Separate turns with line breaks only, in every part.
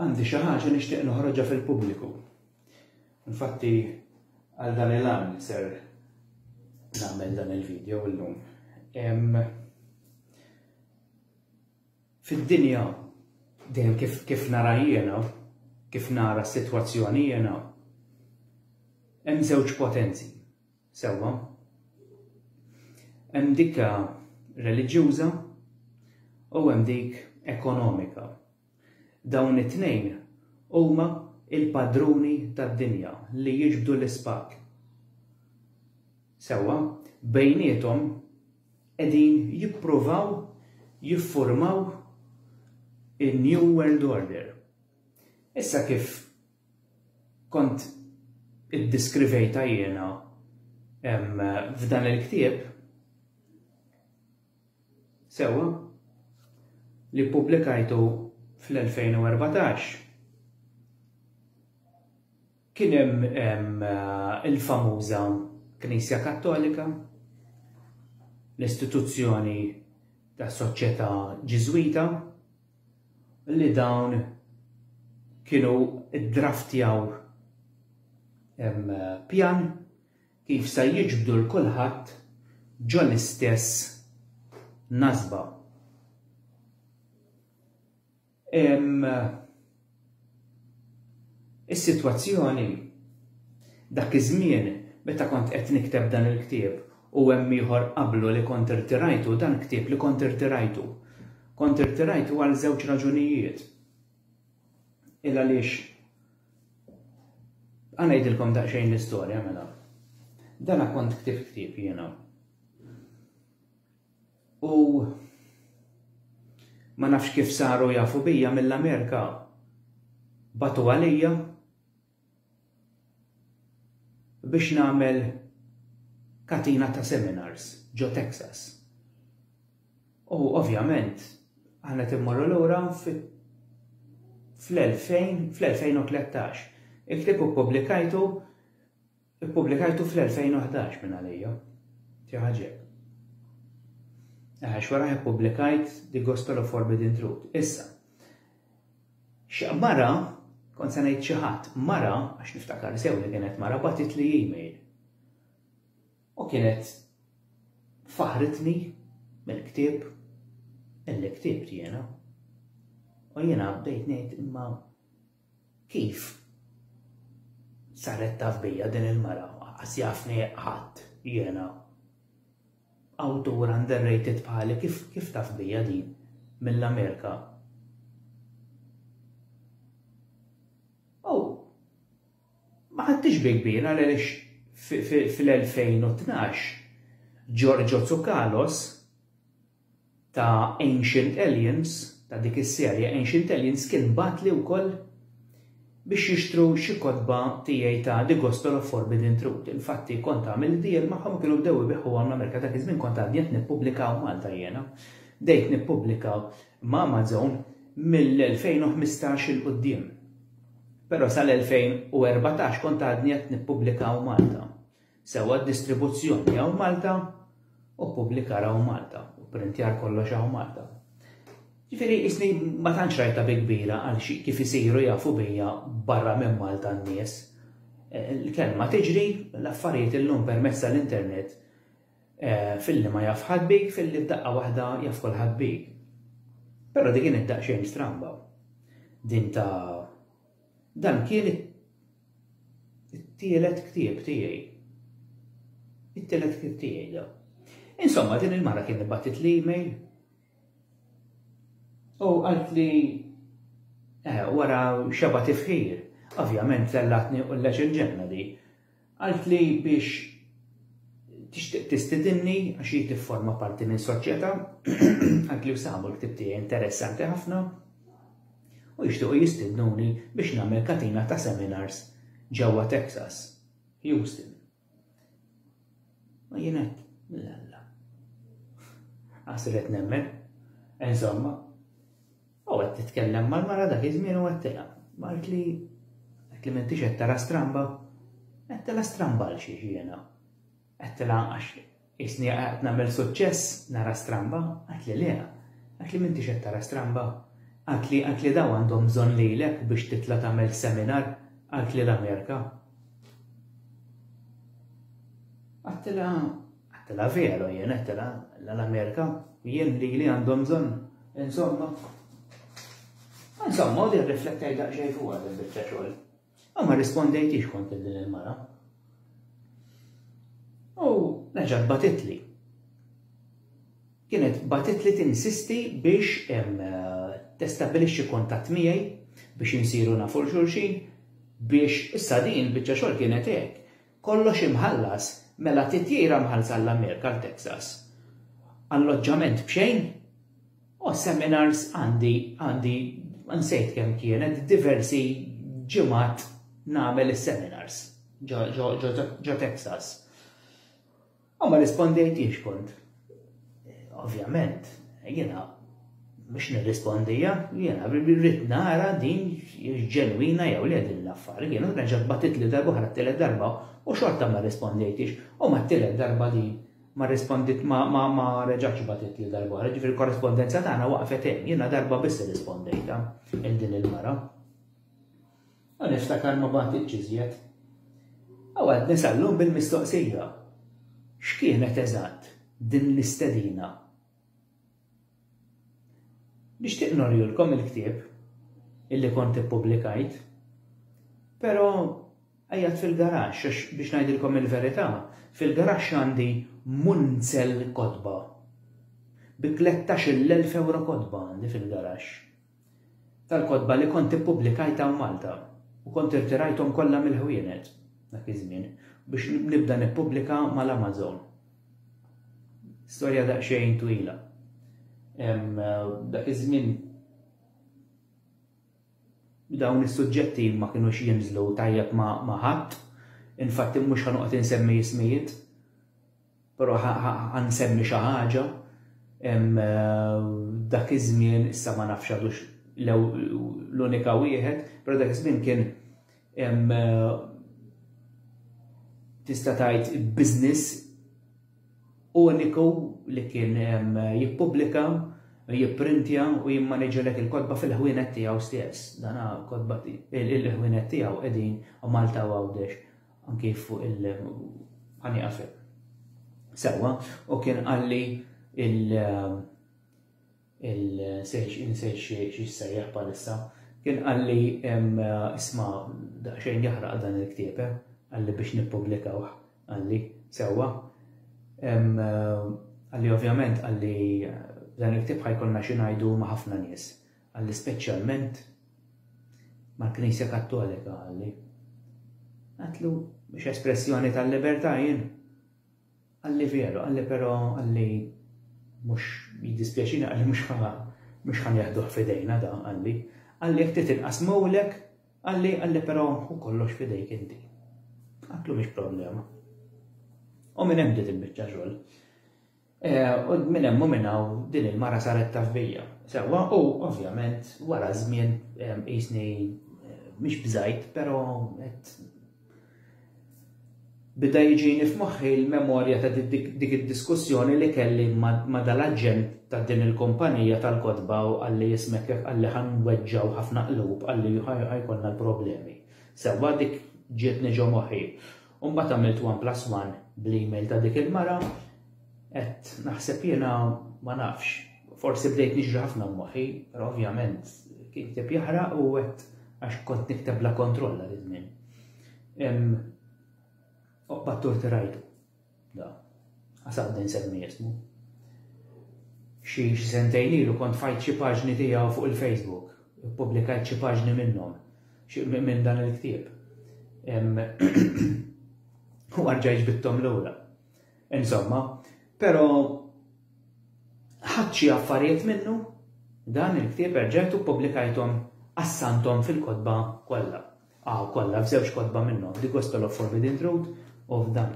Għandi xi ħaġa nixtieq noħroġha fil-pubbliku. Infatti għal dan il-għan ser nagħmel dan il-video illum. Fid-dinja dejjem kif kif nara jiena, kif nara s-sitwazzjoni jiena, hemm żewġ potenzi Sewwa. Hemm dik reliġjuża u hemm dik ekonomika. Dawn it-tnejn huma il-padruni tad-dinja li jiġbdu l-ispakk. Sewwa, bejniethom qegħdin jippruvaw jiffurmaw in-New World Order. Issa kif kont iddiskrivejtha jiena f'dan il-ktieb sewwa li ppubblikajtu fl-2014. Kien hemm il-famuża Knisja Kattolika, l-istituzzjoni tas-Soċjetà Ġiżwita, li dawn kienu ddraftjaw pjan kif se jiġbdu l kulħadd ġo l-istess nasba. Is-sitwazzjoni dak iż-żmien meta kont qed nikteb dan il-ktieb u hemm ieħor qablu li kont irtirajtu dan ktieb li kont irtirajtu. Kont irtirajtu għal żewġ raġunijiet. Il għaliex Għa ngħidilkom daqsxejn l-istorja mela. Dana kont ktibt ktieb jiena. U ma nafx kif saru jafu bija mill-Amerika batu għalija biex nagħmel katina ta' seminars ġo Texas. U ovvjament aħna timmorru lura fl-2000 fl-2013. Iktib u publikajtu Ippubblikajtu fl-2011 minn għalija. Xi għaġeb. Għax wara ippubblikajt The Gospel of Forbidden Truth. Issa, mara, kont se ngħid xi ħadd, mara, għax niftakar sew li kienet mara, batit li email. U kienet faħritni mill-ktieb illi ktibt jiena. U jiena bdejt ngħid imma Kif saret taf bija din il-mara? Aqqas jafni ħadd jiena. Awtur underrated bħali kif kif taf bija din mill-Amerika? Oh, ma ħadtix bi kbir għaliex fil-2012 Giorgio Tsukalos ta' Ancient Aliens, ta' dik is-serje Ancient Aliens kien bagħatli wkoll biex jixtru xi kotba tiegħi ta' The Gospel of Forbidden Truth. Infatti kont għamilt deal magħhom u kienu bdew ibiegħuhom l-Amerika. Dak iż-żmien kont għadni qed nippubblika u Malta jiena. Bdejt nippubblika ma' Amazon mill-2015 'il quddiem. Però sal-2014 kont għadni qed nippubblika u Malta. Sewwa d-distribuzzjoni hawn Malta u ppubblikar hawn Malta u pprintjar kollox hawn Malta. Ġifieri qisni ma tantx rajtha bi kbira għal xi kif isiru jafu bija barra minn Malta n-nies. Il-kelma tiġri, l-affarijiet illum permezz tal-internet filli ma jaf ħadd bik, filli f'daqqa waħda jaf kulħadd bik. Però din kienet daqsxejn stramba. Din ta' Dan kien it-tielet ktieb tiegħi. It-tielet ktieb tiegħi da. Insomma, din il-mara kien ibattit li email u għalt li eh, wara xeba tifħir, ovvjament tellatni u l-leċin ġenna di. Qaltli biex tixtieq tistidinni għax hi tifforma parti minn soċjetà, qaltli sabu l-ktieb tiegħi interessanti ħafna u jixtiequ jistidnuni biex nagħmel katina ta' seminars ġewwa Texas, Houston. U jien qed, l-alla. Għasret nemmen, insomma, U qed titkellem mal-mara dak iż-żmien u għedtilha. Għaltli, għedtli m'intix qed tara stramba? Għedtilha stramba għal xiex jiena? Għedtilha għax isni qed nagħmel suċċess nara stramba? Għedtli le. Għedtli m'intix qed tara stramba? Għedtli għedtli daw għandhom bżonn lilek biex titla' tagħmel seminar għedtli l-Amerika. Għedtilha Għattela veru jien, għattela l-Amerika, jien li li għandhom bżonn, insomma. Insomma, u li riflettaj daqxej fuq għad il-bicċa xogħol. U ma rispondejtix kont din il-mara. U reġat batitli. Kienet batitli tinsisti biex eh, testabilixxi kontatt miegħi biex insiru nafu xulxin biex issa din bieċa xogħol kienet hekk Kollox imħallas, mela titjira mħallsa għall-Amerika għal Texas. Alloġġament b'xejn? O, seminars għandi, għandi, nsejt kemm kienet, diversi ġimgħat nagħmel is-seminars ġo Texas. U ma rispondejtix kont. Ovvjament, jiena mhux nirrispondija, jiena rrid nara din ġenwina jew le din l-affar. Jiena reġgħet batit li darba oħra t-tielet darba u xorta ma rispondejtix. U mat-tielet darba din ma rrispondit ma reġgħetx batit li darba oħra, ġifieri l-korrespondenza tagħna waqfet hemm. Jiena darba biss irrispondejtha lil din il-mara. U niftakar ma bagħtitx iżjed. U għadni sal-lum bil-mistoqsija, x'kienet eżatt din l-istedina? Nixtieq norjulkom il-ktieb illi kont ippubblikajt, però qiegħed fil-garaxx għax biex ngħidilkom il-verità, fil-garaxx għandi munzel kotba. Bi tlettax-il elf ewro kotba għandi fil-garaxx. tal-kotba li kont ippubblikajt hawn Malta u kont irtirajthom kollha mill-ħwienet dak iż-żmien biex nibda nippubblika mal-Amazon. Storja daqsxejn twila. Dak iż-żmien dawn is-suġġetti ma kinux jinżlu tajjeb ma' ħadd, infatti mhux ħanoqgħod insemmi ismijiet. Però ħa nsemmi xi ħaġa, dak iż-żmien, issa ma nafx għadux l-unika wieħed, però dak iż-żmien kien tista' tgħid business uniku li kien jippubblika, jipprintja u jimmaniġilek il-kotba fil-ħwienet tiegħu stess. Dan kotba il-ħwienet tiegħu qegħdin Malta u Għawdex. anki fuq il ħa nieqaf hekk. Sewwa, u kien qalli il il-sejx insejx xi sejjaħ bħalissa, kien qalli isma' daqsxejn jaħraq dan il-ktieb, eh? qalli biex nippubblikawh, qalli sewwa. Qalli ovvjament qalli dan il-ktieb ħajkolna xi ngħidu ma' ħafna nies. Qalli speċjalment mal-Knisja Kattolika, qalli. Għedtlu, mhix espressjoni tal-libertà jien? Qalli veru, qalli però qalli mhux jiddispjaċina qalli mhux ħa mhux ħa nieħduh f'idejna da, qalli. Qalli jekk trid inqasmulek, qalli qalli però hu kollox f'idejk inti. Għedtlu mhix problema. U minn hemm bdiet il-biċċa xogħol. U minn hemm u minn hawn din il-mara saret taf bija. Sewwa, u ovvjament wara żmien qisni mhix bżajt, però qed bida jiġini f'moħħi l-memorja ta' dik id-diskussjoni li kelli ma' dal-aġent ta' din il-kumpanija tal-kotba u qalli ismek jekk qalli ħa nweġġgħu ħafna qlub qalli ħa jkollna l-problemi. Sewwa dik ġietni ġo moħħi. U mbagħad għamilt one plus one bl-email ta' dik il-mara, qed naħseb jiena ma nafx. Forsi bdejt niġri ħafna moħħi, però ovvjament kien ktib jaħraq u qed għax kont nikteb la kontrolla li żmien. Oqbad torti rajtu. Da, għasabda nsemmi jismu. Xi xi sentejn ilu kont fajt xi paġni tiegħu fuq il-Facebook. Publikajt xi paġni minnhom, minn dan il-ktieb. U għarġajġ bittom l-ura. Insomma, pero ħadċi affarijiet minnu dan il-ktieb erġajtu publikajtom assantom fil-kodba kollha. Hawn kollha f'żewġ kotba minnhom, The Gospel of Forbidden Truth u f'dan.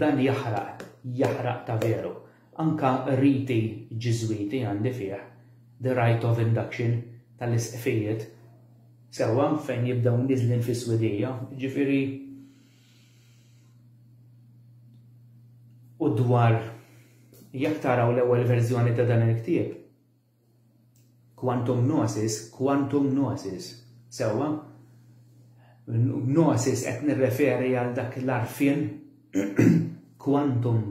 Dan jaħraq, jaħraq ta' veru. Anke r-riti Ġiżwiti għandi fih, The Rite of Induction, tal-Isqfijiet, sewwa, fejn jibdew niżlin fis-swidija, jiġifieri u dwar jekk taraw l-ewwel verżjoni ta' dan il-ktieb, Quantum gnosis, quantum gnosis. Sewwa? Gnosis qed nirreferi għal dak l-għarfien quantum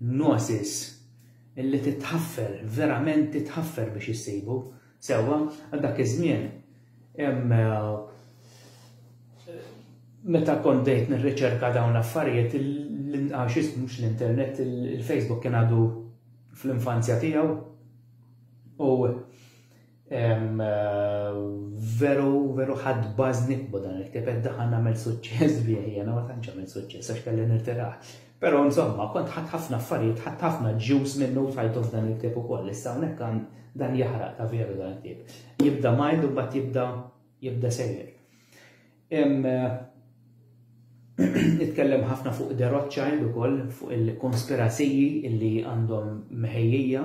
gnosis illi titħaffer, verament titħaffer biex issibu. Sewwa, għal dak iż-żmien hemm eh, meta kont dejt nirriċerka dawn l-affarijiet l-inqax mhux l-internet, il-Facebook kien għadu fl-infanzja tiegħu u veru veru ħadd bażni dan il-ktieb qed daħal nagħmel suċċess bih jiena ma tantx għamel suċċess għax kelli nirtirah. Però insomma kont ħadd ħafna affarijiet, ħadd ħafna ġus minnu tajtu f'dan il-ktieb ukoll. Issa hawnhekk dan jaħraq ta' veru dan il-ktieb. Jibda mild u mbagħad jibda jibda sejjer. Hemm nitkellem ħafna fuq De Rothschild ukoll fuq il-konspiraziji illi għandhom meħejjija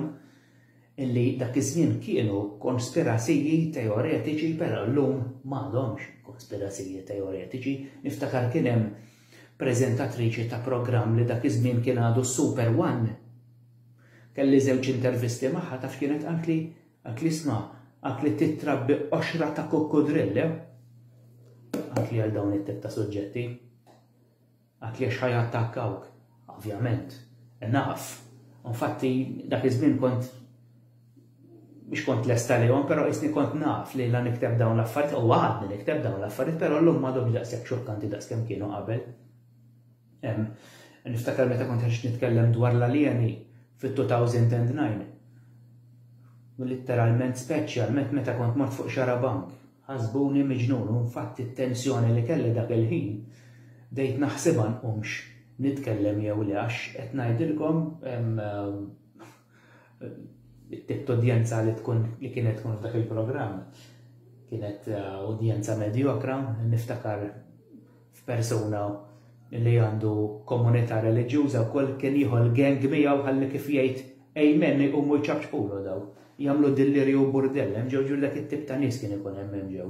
illi dak iż-żmien kienu konspiraziji teoretiċi però llum m'għadhomx konspiraziji teoretiċi. Niftakar kien hemm preżentatriċi ta' programm li dak iż-żmien kien għadu Super One. Kelli żewġ intervisti magħha taf kienet qaltli Għad li sna, għad li titrabbi qoxra ta' kukkudrill, eh? Għad li għal dawn it-tip ta' suġġetti? Għad li għax ħajattakkawk? Ovvjament, naf. Infatti, dak iż-żmien kont biex kont lesta li għom, pero jisni kont naf li la nikteb dawn l-affarijiet, u għadni nikteb dawn l-affarijiet, pero l-lum ma domx daqsek xokkanti daqskem kienu qabel. Niftakar meta kont għax nitkellem dwar l-aljeni fit-2009. Litteralment speċjalment meta kont mort fuq xara bank. Ħasbuni miġnun u nfatt it-tensjoni li kelli dak il-ħin bdejt naħsibha nqumx nitkellem jew le għax qed ngħidilkom it-tip t'udjenza li tkun li kienet tkun f'dak il-programm kienet eh, udjenza medjokra, niftakar f'persuna li għandu komunità reliġjuża wkoll kien jieħu l-gang miegħu ħalli kif jgħid Amen iqumu jċapċqulu daw. Jagħmlu dillirju u burdell, hemm ġew ġieli dak it-tip ta' nies kien ikun hemm hemm ġew.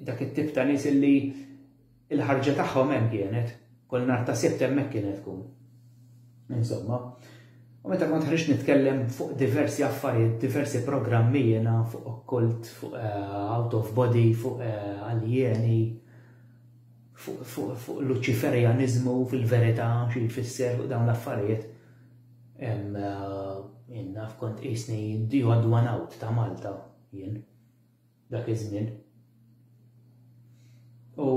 Dak it-tip ta' nies illi l-ħarġa tagħhom hemm kienet, kull nhar ta' Sibt hemmhekk kienet tkun. Insomma, u meta kont ħriġt nitkellem fuq diversi affarijiet, diversi programmi jiena fuq okkult, fuq eh, out of body, fuq eh, aljeni, fuq luċiferjanizmu fil-verità xi jfisser fuq dawn l-affarijiet. Eh, Inna f'kont isni the odd one out ta' Malta jien. Dak iż-żmien. U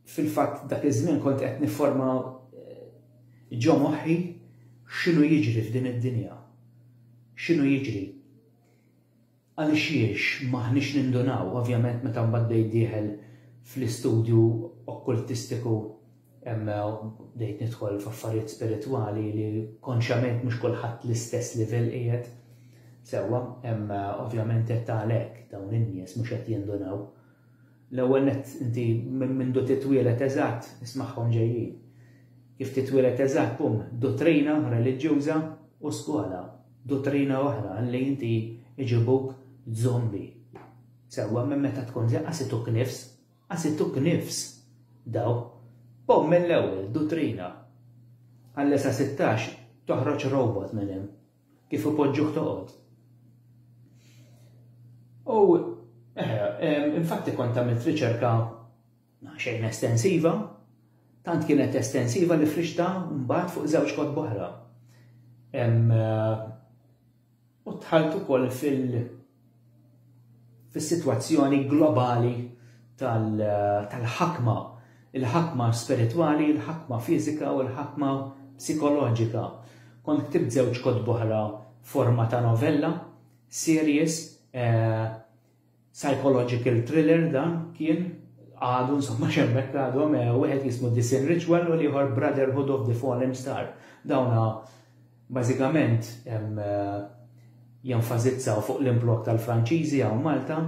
fil-fatt dak iż-żmien kont qed nifforma eh, ġo moħħi x'inhu jiġri f'din id-dinja. X'inhu jiġri? Għaliex jiex maħniex nindunaw, ovvjament meta mbagħad bdejt dieħel fl-istudju okkultistiku Hemm bdejt nidħol f'affarijiet spiritwali li konxjament mhux kulħadd l-istess livell qiegħed sewwa, hemm ovvjament qed għalhekk dawn in-nies mhux qed jindunaw. L-ewwel nett inti minn mindu titwieled eżatt ismagħhom ġejjin. Kif titwieled eżatt bum, duttrina reliġjuża u skola, duttrina oħra li inti iġibuk żombi. Sewwa minn meta tkun żeqqa situk nifs. Għasittu knifs, daw, b'hawn mill-ewwel, dutrina. Għalles għasittax toħroġ robot minn hemm, kif ipoġġuh toqgħod. U, eh, infatti kont għamilt riċerka xejn estensiva, tant kienet estensiva li frixta mbagħad fuq żewġ kotb oħra. Eh, u dħalt ukoll fil fis-sitwazzjoni globali tal tal-ħakma, il-ħakma spiritwali, il-ħakma fiżika u l-ħakma psikoloġika. Kont ktibt żewġ kotb oħra forma ta' novella, series, eh, Psychological thriller dan kien, għadu insomma x'hemmhekk għadhom, wieħed jismu The Sin Ritual u l-ieħor Brotherhood of the Fallen Star. Dawna bażikament jenfasizzaw fuq l-implokk tal-Franċiżi hawn Malta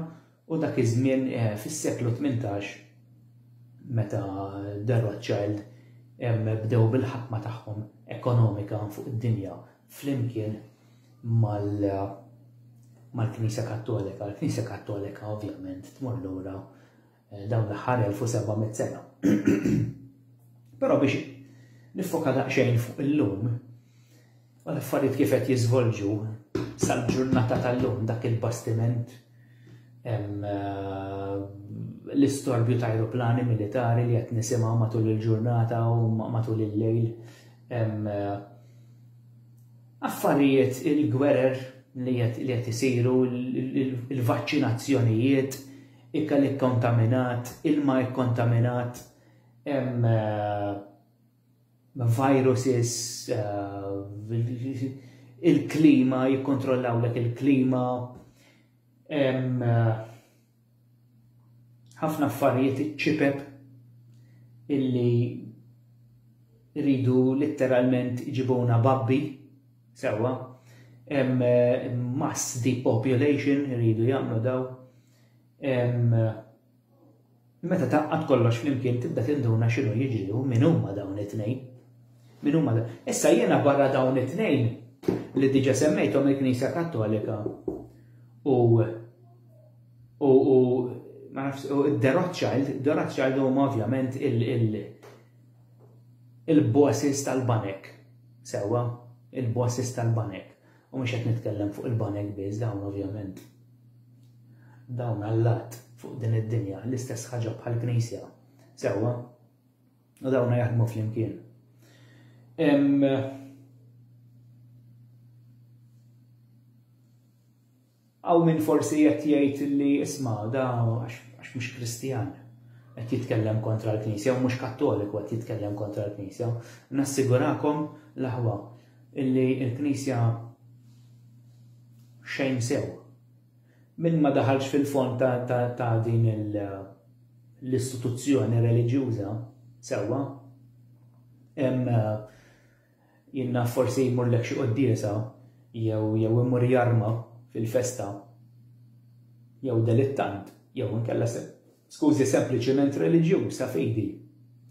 u dak iż-żmien fis-seklu tmintax meta The Rothschild bdew bil-ħakma tagħhom ekonomika fuq id-dinja flimkien mal-Knisja Kattolika. Il-Knisja Kattolika ovvjament tmur lura eh, dawn l-aħħar 1700 sena. Però biex nifoka daqsxejn fuq illum, u l-affarijiet kif qed jiżvolġu sal-ġurnata tal-lum dak il-bastiment eh, l-istorbju ta' aeroplani militari li qed nisimgħu matul il-ġurnata u matul il-lejl Hemm eh, affarijiet il-gwerer li qed isiru, il-vaċċinazzjonijiet, ikel ikkontaminat, ilma ikkontaminat, hemm eh, viruses, eh, il-klima, jikkontrollawlek il-klima, hemm ħafna affarijiet iċ-ċipep illi rridu litteralment iġibuna babbi sewwa hemm eh, mass depopulation irridu jagħmlu daw hemm eh, meta taqqat kollox flimkien tibda tinduna x'inhu jiġri u min huma dawn it-tnejn. Min huma dawn. Issa jiena barra dawn it-tnejn li diġa semmejthom il-Knisja Kattolika u U u ma nafx u The Rothschild, The Rothschild huma ovvjament il il il-bosses tal-banek. Sewwa, il-bosses tal-banek. U mhux qed nitkellem fuq il-banek biss dawn ovvjament. Dawn allat fuq din id-dinja l-istess ħaġa bħal knisja. Sewwa, u dawna jaħdmu flimkien. Hawn min forsi qed jgħid li isma' da għax mhux Kristjan qed jitkellem kontra l-Knisja u mhux Kattoliku qed jitkellem kontra l-Knisja. Nassigurakom l-aħwa illi l-Knisja xejn sew. Min ma daħalx fil-fond ta' din l-istituzzjoni reliġjuża sewwa Jien naf forsi jmurlek xi quddiesa jew jew imur jarma fil-festa jew delittant jew inkella se skużi sempliċiment reliġjuż ta' fidi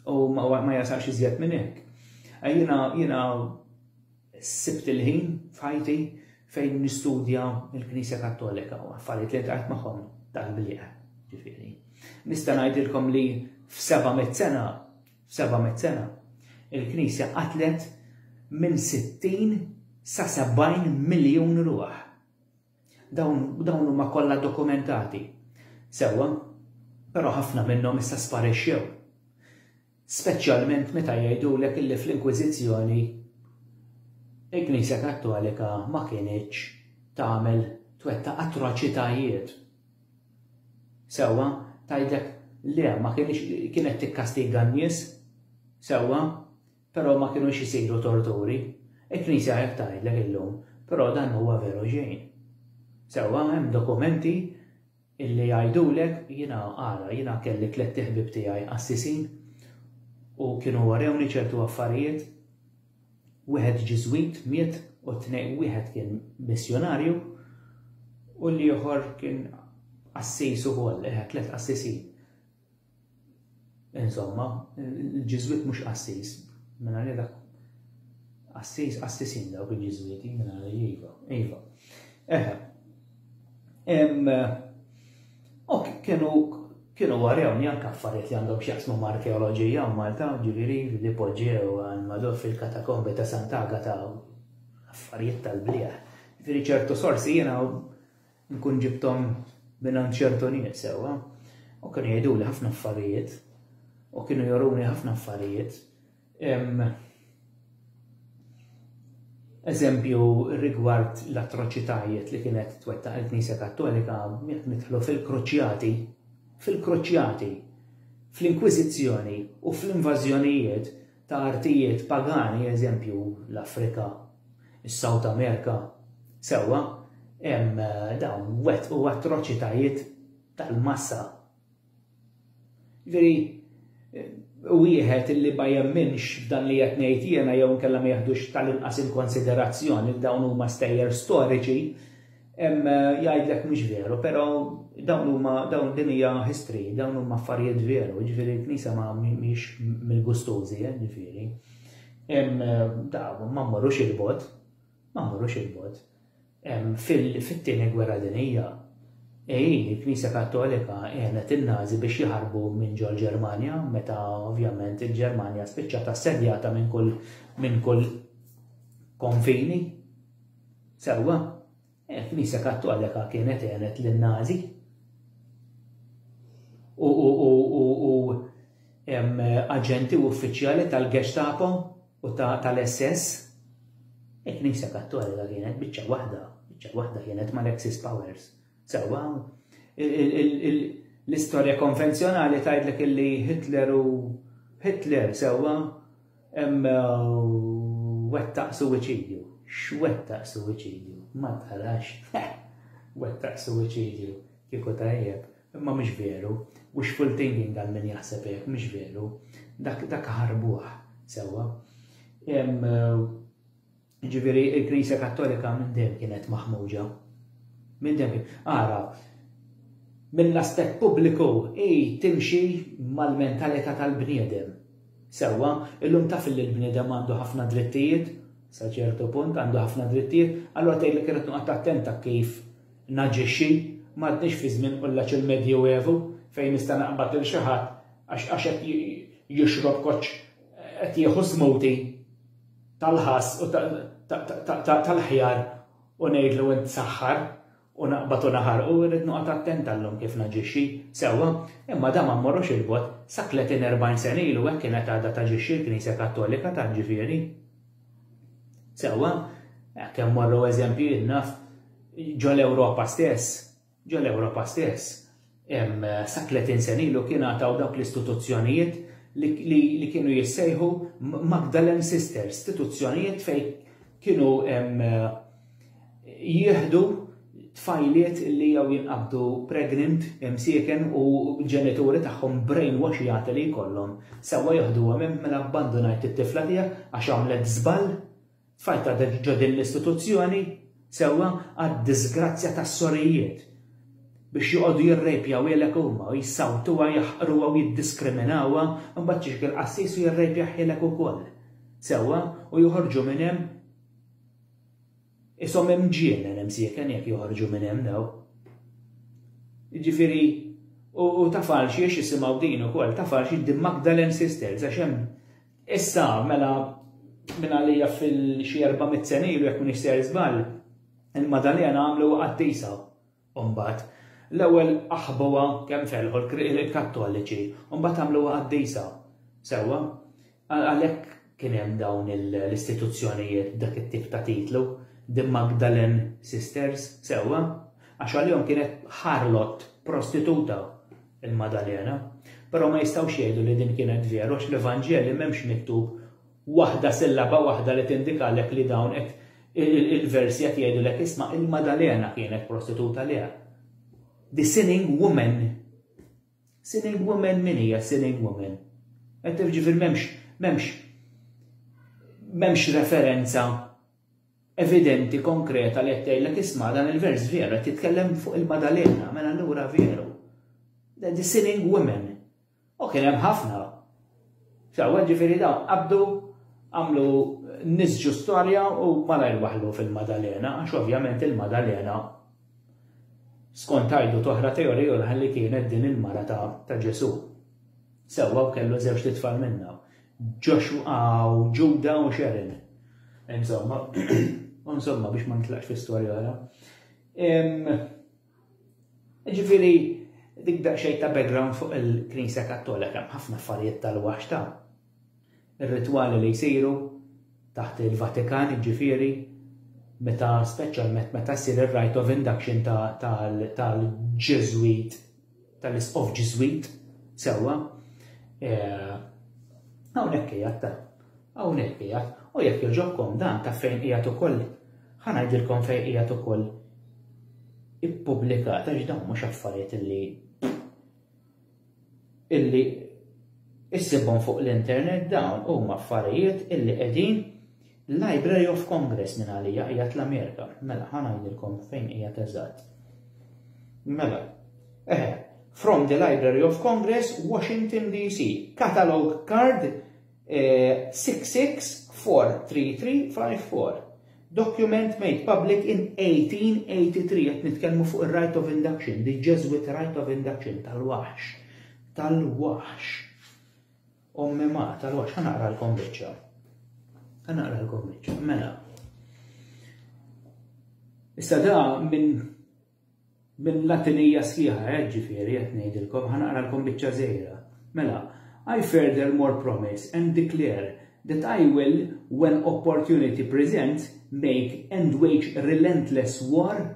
u ma ma jasalx iżjed minn hekk. Eh, jiena jiena sibt il-ħin f'ħajti fejn nistudja l-Knisja Kattolika u affarijiet li tajt magħhom tal-bliq, ġifieri. Nista' ngħidilkom li f'seba' mit sena 700 sena, il-Knisja qatlet minn 60 sa 70 miljun ruħ. Dawn huma kollha dokumentati. Sewwa, però ħafna minnhom issa sparixxew. Speċjalment meta jgħidulek illi fl-Inkwiżizzjoni il-Knisja Kattolika ma kinitx tagħmel twettaq atroċitajiet. Sewwa, tgħidlek le ma kienx kienet tikkastiga n-nies. Sewwa, però ma kienux isiru torturi. Il-Knisja hekk tgħidlek illum, però dan huwa veru xejn. Sewwa, hemm dokumenti illi jgħidulek jiena ara jiena kelli tlett iħbieb tiegħi qassisin u kienu warewni ċertu affarijiet wieħed Ġiżwit miet u t-tnejn wieħed kien missjunarju u l-ieħor kien qassis ukoll, tliet qassisin. Insomma, il-Ġiżwit mhux qassis, mela li dak qassis qassisin dawk il-Ġiżwiti, mela li iva, iva. Eħe. Em, ok, kienu kienu warjawni anke affarijiet li għandhom x'jaqsmu ma' arkeoloġija u Malta, ġifieri li poġġew għal madur fil-katakombi ta' Santaga ta' affarijiet tal-bliegħ. Ġifieri ċertu sorsi jiena nkun ġibtom minn ċertu nies sewwa u kienu jgħidu li ħafna affarijiet u kienu joruni ħafna affarijiet Eżempju rigward l-atroċitajiet li kienet twettaq il-Knisja Kattolika jekk nidħlu fil-kruċjati, fil-kruċjati, fl-inkwiżizzjoni u fl-invażjonijiet ta' artijiet pagani, eżempju l-Afrika, is-South Amerika, sewwa, hemm dawn wettqu atroċitajiet tal-massa. Veri, wieħed illi ma jemminx f'dan li qed ngħid jiena jew inkella ma jeħdux tal-inqas inkonsiderazzjoni li dawn huma stejjer storiċi, jgħidlek mhux veru, però dawn huma dawn din hija history, dawn huma affarijiet veru, ġifieri l-Knisja ma mhix mill-gustożi, eh, ġifieri. Ma mmorrux il-bot. Ma mmorrux 'il bogħod. Fit-Tieni Gwerra Dinjija, il-Knisja Kattolika għenet in-Nazi biex jaħarbu minn ġol-Ġermanja meta ovvjament il-Ġermanja spiċċat assedjata minn kull konfini. Sewwa, il-Knisja Kattolika kienet għenet lin-Nazi. U aġenti u uffiċjali tal-Gestapo u ta' tal-SS, il-Knisja Kattolika kienet biċċa waħda, biċċa waħda kienet mal-Axis Powers. Sewwa, l-istorja konvenzjonali tgħidlek li Hitler u Hitler sewwa wettaq suwiċidju. X'wettaq suwiċidju? Ma tarax. Wettaq suwiċidju. Kieku tajjeb. Imma mhux veru. Wishful thinking għal min jaħseb hekk, mhux veru. Dak dak ħarbuh sewwa. Jiġifieri l-Knisja Kattolika minn dejjem kienet maħmuġa. Minn dejjem kien. Ara, mill-aspett pubbliku hi timxi mal-mentalità tal-bniedem. Sewwa, illum taf li l-bniedem għandu ħafna drittijiet, sa ċertu punt għandu ħafna drittijiet, allura tgħidlek irid noqgħod attent ta' kif Naġixxi, M'għadniex fi żmien qullaċ il-Medjuevu fejn nista' naqbad lil xi ħadd għax għax qed jixrob koċċ qed jieħu smoothie tal-ħass u tal-ħjar u ngħidlu int saħħar u naqbad u naħarqu, irrid noqgħod attent għal-lum kif naġixxi. Sewwa, imma dan ma mmorrux 'il bogħod, sa tletin erbgħin sena ilu hekk kienet għadha taġixxi l-Knisja Kattolika tant ġifieri. Sewwa, kemm morru eżempji naf ġol Ewropa stess, ġol Ewropa stess, sa 30 sena ilu kien għataw dawk l-istituzzjonijiet li kienu jissejħu Magdalen Sisters, istituzzjonijiet fejn kienu jieħdu tfajliet li jew jinqabdu pregnant, imsieken u ġenituri tagħhom brainwashjati li jkollhom sewwa joħduhom hemm mela abbandunajt it-tifla tiegħek għax għamlet żball, tfajtha ġo din l-istituzzjoni sewwa għad-diżgrazzja tas-sorijiet biex joqogħdu jirrejpjawhielek huma u jsawtuha jaħqruha u jiddiskriminawha u mbagħad jiġik il-qassis u jirrejpjahielek ukoll sewwa u joħorġu minn hemm Qishom imġienen imsieken jekk joħorġu minn hemm daw. Jiġifieri u ta' falx jiex isimgħu din ukoll, ta' falx id Magdalen Sisters għax hemm issa mela minn għalija fil-xi 400 sena ilu jekk m'iniex ser żball, il-Madalena għamlu qaddisa u mbagħad, l-ewwel aħbuha kemm felħu l-Kattoliċi u mbagħad għamluha qaddisa. Sewwa? Għalhekk kien hemm dawn l-istituzzjonijiet b'dak it-tip ta' titlu, The Magdalen Sisters, sewwa? Għax għalihom kienet ħarlot prostituta il-Madalena. Però ma jistgħux jgħidu li din kienet veru għax l-Evanġeli m'hemmx miktub waħda sillaba waħda li tindikalek li dawn qed il-versi qed jgħidulek isma' il-Madalena kienet prostituta le. The sinning woman. Sinning woman min hija sinning woman? Qed ġifier m'hemmx m'hemmx m'hemmx referenza evidenti konkreta li qed tgħidlek isma' dan il-vers vera titkellem fuq il-Madalena, mela allura veru. The sinning woman. U kien hemm ħafna. X'hawn, ġifieri dawn qabdu, għamlu nisġu storja u malajr waħlu fil-Madalena, għax ovvjament il-Madalena skont għajdu toħra teorija oħra li kienet din il-mara ta', ta Ġesù. Sewwa u kellu żewġ titfal minnha. Joshua u Ġuda u Sharon. Insomma, insomma biex ma nitlaqx fi storja oħra. Jiġifieri dik daqsxejn ta' background fuq il-Knisja Kattolika hemm ħafna affarijiet tal-wax ta' ir-ritwali li jsiru taħt il-Vatikan jiġifieri meta speċjalment meta ssir ir-rite of induction tal-Ġeżwit tal-Isqof Ġiżwit, sewwa, hawnhekk qiegħed ta, hawnhekk qiegħed, u jekk jogħġobkom dan ta' fejn qiegħed ukoll, ħa ngħidilkom fejn qiegħed ukoll ippubblikat għax dawn mhux affarijiet illi illi issibhom fuq l-internet dawn huma affarijiet illi qegħdin Library of Congress minn għalija qiegħed l-Amerika. Mela, ħa ngħidilkom fejn qiegħed eżatt. Mela, eħe, from the Library of Congress, Washington DC, catalog card eh, 66-43354. Document made public in 1883 qed nitkellmu fuq ir-right of induction, the Jesuit right of induction tal-waħx. Tal-waħx. Ommi ma qtalhomx, ħa naqralkom biċċa. Ħa naqralkom biċċa, mela. Issa da minn minn latinija sħiħa, eh, ġifieri qed ngħidilkom, ħa naqralkom biċċa żejra. Mela, I further more promise and declare that I will, when opportunity presents, make and wage relentless war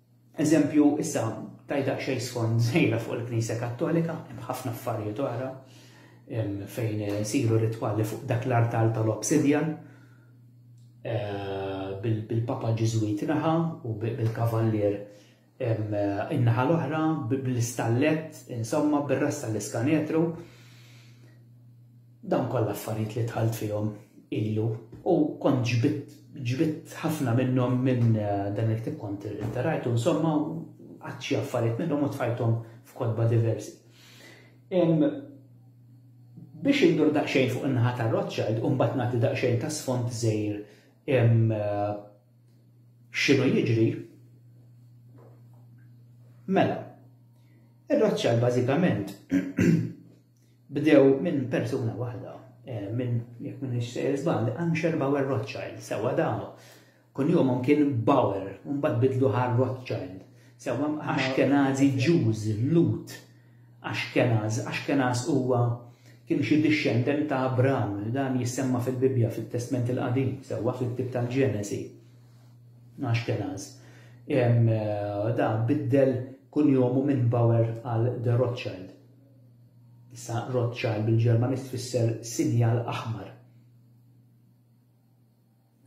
Eżempju, issa tajt daqsxejn sfond żgħira fuq il-Knisja Kattolika, hemm ħafna affarijiet oħra fejn isiru ritwali fuq dak l-artal tal-obsidjan eh, bil-Papa Ġiżwit naħa u bil-Kavallier in-naħa l-oħra bl-istallet, insomma bir-rasta l-iskanetru. Dawn kollha affarijiet li dħalt fihom ilu u kont ġbidt ġbidt ħafna minnhom minn dan il-ktieb kont irterajtu insomma u qatt xi affarijiet minnhom u tfajthom f'kotba diversi. Biex indur daqsxejn fuq in-naħa ta' Rothschild u mbagħad nagħti daqsxejn ta' sfond żgħir x'inhu jiġri, mela, ir-Rothschild bażikament Bdew minn persuna waħda, minn, jekk m'iniex sejjer żball, Ansher Bauer Rothschild, sewwa damu. Kunjomhom kien Bauer u mbagħad bidlu għal Rothschild. Sewwa Ashkenazi Jews, Lhud Ashkenaz. Ashkenaz huwa kien xi dixxendent ta' Abraham, dan jissemma fil-Bibbja fit-Testment il-Qadim, sewwa fil-ktieb tal-Ġenesi. Ashkenaz. Da biddel kunjomu minn Bauer għal De Rothschild. Issa Rothschild bil-Ġermaniż tfisser sinjal aħmar.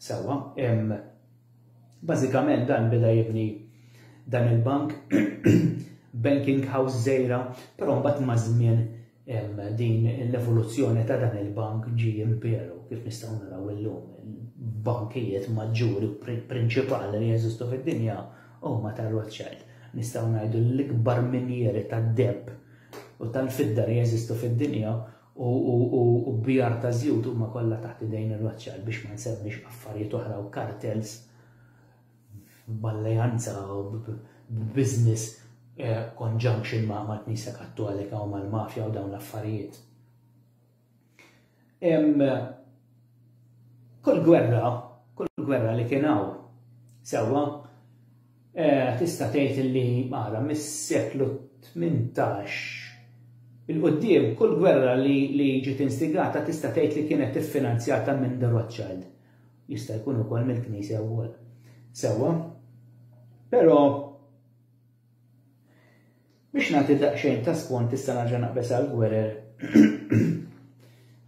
Sewwa, bażikament dan beda jibni dan il-bank banking house żgħira, però mbagħad maż-żmien din l-evoluzzjoni ta' dan il-bank ġi imperu kif nistgħu naraw illum il-bankijiet maġġuri prinċipali li jeżistu fid-dinja Huma ta' Rothschild, nistgħu ngħidu li l-ikbar minjieri tad-deheb u tal-fidda li jeżistu fid-dinja u bjar ta' żjut huma kollha taħt idejn ir-Rothschild biex ma nsemmix affarijiet oħra u kartels b'alleanza u b'business conjunction ma' l-Knisja Kattolika u mal-mafja u dawn l-affarijiet. Hemm kull gwerra, kull gwerra li kien hawn sewwa eh, tista' tgħid li mara mis-seklu 18 il-qudiem kull gwerra li, li ġiet instigata tista' tgħid li kienet iffinanzjata minn The Rothschild. Jista' jkun ukoll mill-Knisja wkoll. Sewwa. Però Biex nagħti daqsxejn ta' spont tista' nerġa' naqbeż għal Gwerer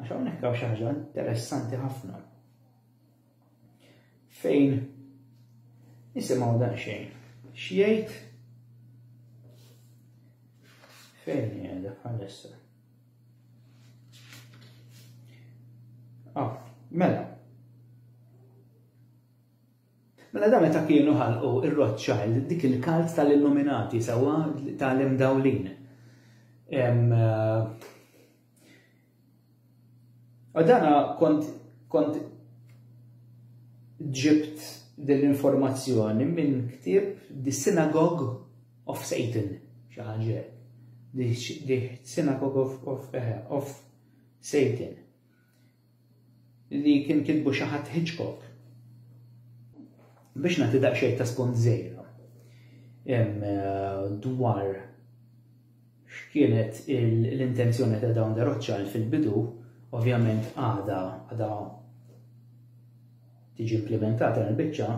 għax hawnhekk hawn xi ħaġa interessanti ħafna. Fejn nisimgħu daqsxejn x'jgħid fejn qiegħda bħalissa. Ah, mela, Mela dawn meta kienu ħalqu r-Rothschild dik il-kalt tal-illuminati sewwa ta' l-imdawlin. U dana kont kont ġibt din l-informazzjoni minn ktieb The Synagogue of Satan, xi ħaġa The Synagogue of, of, eh, of Satan. li kien kitbu xi ħadd Hitchcock. Biex nagħti daqsxejn ta' spunt żejra eh, dwar x'kienet l-intenzjoni ta' dawn de Rothschild fil-bidu, ovvjament għada għada tiġi implementata l-biċċa,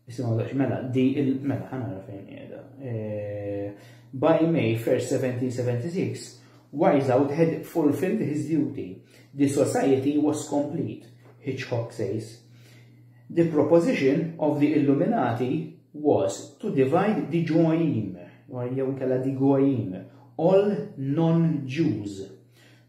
Isimgħu daċ, mela, di il mela ħanara fejn qiegħda. Eh, by May 1st 1776, Wiseout had fulfilled his duty. The society was complete, Hitchcock says. The proposition of the Illuminati was to divide the Goyim, or jew kella the Goyim, all non-Jews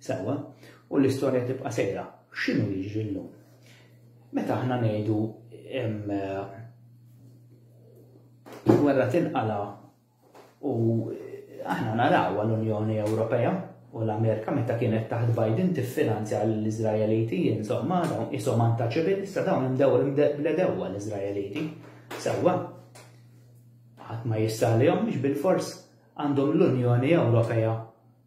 Sewwa, u l-istorja tibqa' sejra. X'inhu jiġri llum? Meta aħna ngħidu il-gwerra tinqala u aħna naraw għall-Unjoni Ewropea u l-Amerika meta kienet taħt Biden tiffinanzja l-Izraeliti, insomma, dawn isom anta ċivil, issa dawn imdew bledewwa l-Izraeliti. Sewwa, ħadd ma jissalihom biex bil-fors għandhom l-Unjoni Ewropea